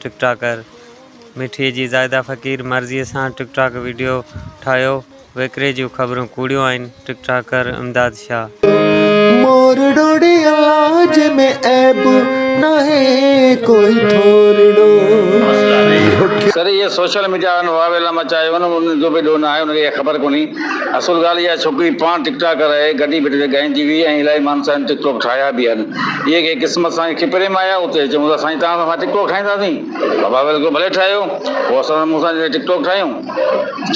ٽڪ ٽاڪر مٺيء جي زاهده فقير مرضيء سان ٽڪ ٽاڪ وڊيو ٺاهيو، ويڪري جون خبرون ڪوڙيون آهن، ٽڪ ٽاڪر امداد شاهه. مورڙوڙي الاج ۾ عيب ناهي ڪوئي ٿورڙو اهو ڪي. سر اهي سوشل ميڊيا وارن واويلا مچايو آهي ان جو به ڏوهه ناهي ان کي اها خبر ڪونهي اصل ڳالهه اها ڇوڪري پاڻ ٽڪ ٽاڪر آهي گڏي بيٺي ته ڳائيندي هئي ۽ الائي ماڻهن سان هن ٽڪ ٽاڪ ٺاهيا به آهن. اهي ڪنهن قسمت سان اکي پري مايا هو ته چيون ٿا سائين توهان سان اسان ٽڪ ٽوڪ ٺاهينداسين. بابا ويل ڪيو ڀلي ٺاهيو. پوء اسان سان مون سان جڏهن ٽڪ ٽوڪ ٺاهيون.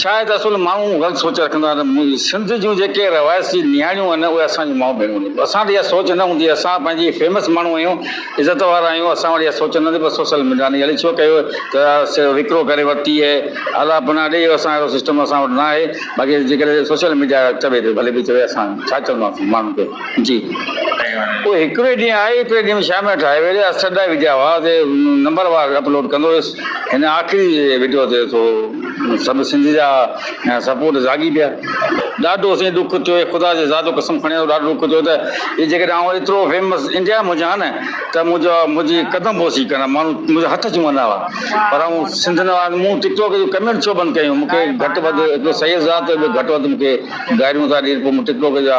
ڇا آهي ته اصل ماڻهو غلط سوچ رکندا آهن. سنڌ جون جيڪي روايسي نياڻيون آهن اهي اسان جون مائون ڀيڻون آهن. اسان وٽ اها سوچ نه هوندي اسان پنهنجي فيمس ماڻهو آهيون عزت وارا آهيون اسان وٽ اها سوچ نه هوندي پر سوسل ميڊيا ني اڙي ڇو ڪيو ته وڪرو ڪري ورتي آهي الا پنا ڏي اسان اهڙو سسٽم اسان وٽ نه آهي باقي جيڪڏهن سوشل ميڊيا چوي ته ڀلي ڀي چوي اسان ڇا چونداسين ماڻهن کي. جي پوء هڪڙي ڏينهن آئي ٻئي ڏينهن شام جو ٺاهي ويلي اسٽر ڊائيو جا هئا تي نمبر وار اپلوڊ ڪندو هيس هن آخري وڊيو تي ٿو سڀ سنڌ جا سپورٽ زاڳي پيا. ڏاڍو سائين ڏک ٿيو هي خدا جي ذات جو قسم کڻي ٿو ڏاڍو ڏک ٿيو ته هي جيڪڏهن آئون ايترو فيمس انڊيا ۾ هجان ها نه ته منهنجا منهنجي قدم بوسي ڪندا ماڻهو منهنجا هٿ چومندا هئا پر آئون سنڌ نه آهيان مون ٽڪ ٽوڪ جون ڪمينٽ ڇو بند ڪيون مون کي گهٽ وڌ هڪڙو سيد ذات ٻيو گهٽ وڌ مون کي گاريون ٿا ڏين پوء مون ٽڪ ٽوڪ جا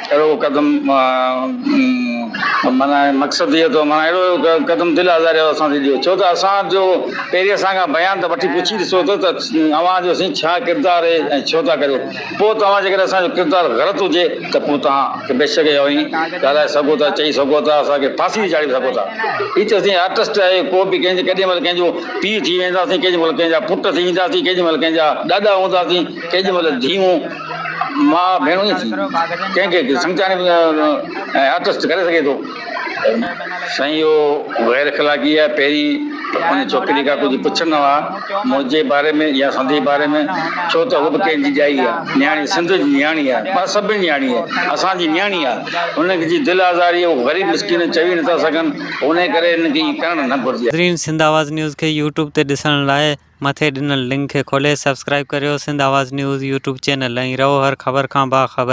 اهڙو قدم معنيٰ مقصد هيء اٿو معنيٰ اهڙو قدم دل آزاريء واسان ٿي ڏيو ڇو ته اسان جو پيري اسان کان بيان ته وٺي پڇي ڏسو ته ته اوهان جو سائين ڇا ڪردار اهي ۽ ڇو ٿا ڪريو پوء توهان جيڪڏهن اسان جو ڪردار غلط هجي ته پوء توهان کي بيشڪ اهي اوهين ڳالهائي سگهو ٿا چئي سگهو ٿا اسان کي ڦاسي تي چاڙهي سگهو ٿا هي ته اسين آرٽسٽ آهيون ڪو به ڪنهن جي ڪيڏي مهل ڪنهن جو پيء ٿي وينداسين ڪيڏي مهل ڪنهن جا پٽ ٿي وينداسين ڪيڏي مهل ڪنهن جا ڏاڏا هونداسين ڪيڏي مهل ڌيئون ماء ڀيڻون ئي ٿي، ڪنهن کي سمجهائڻ به ۽ آتست ڪري سگهي ٿو. سائين اهو غير اخلاقي آهي، پهرين ان ڇوڪري کان ڪجهه پڇندا هئا، منهنجي باري ۾ يا سندي باري ۾، ڇو ته هوء به ڪنهن جي ڄائي آهي، نياڻي سنڌ جي نياڻي آهي، مطلب سڀ جي نياڻي آهي، اسان جي نياڻي آهي، هن جي دل آزاري هو غريب مسڪين چوي نٿا سگهن، انهيء ڪري هن کي ائين ڪرڻ نه گهرجي ها. ناظرين سنڌ آواز نيوز کي يوٽيوب تي ڏسڻ لاء مٿي ڏنل لنڪ کي کولي سبسڪرائيب ڪريو Sindh Awaz news YouTube channel ۽ رهو هر خبر کان باخبر.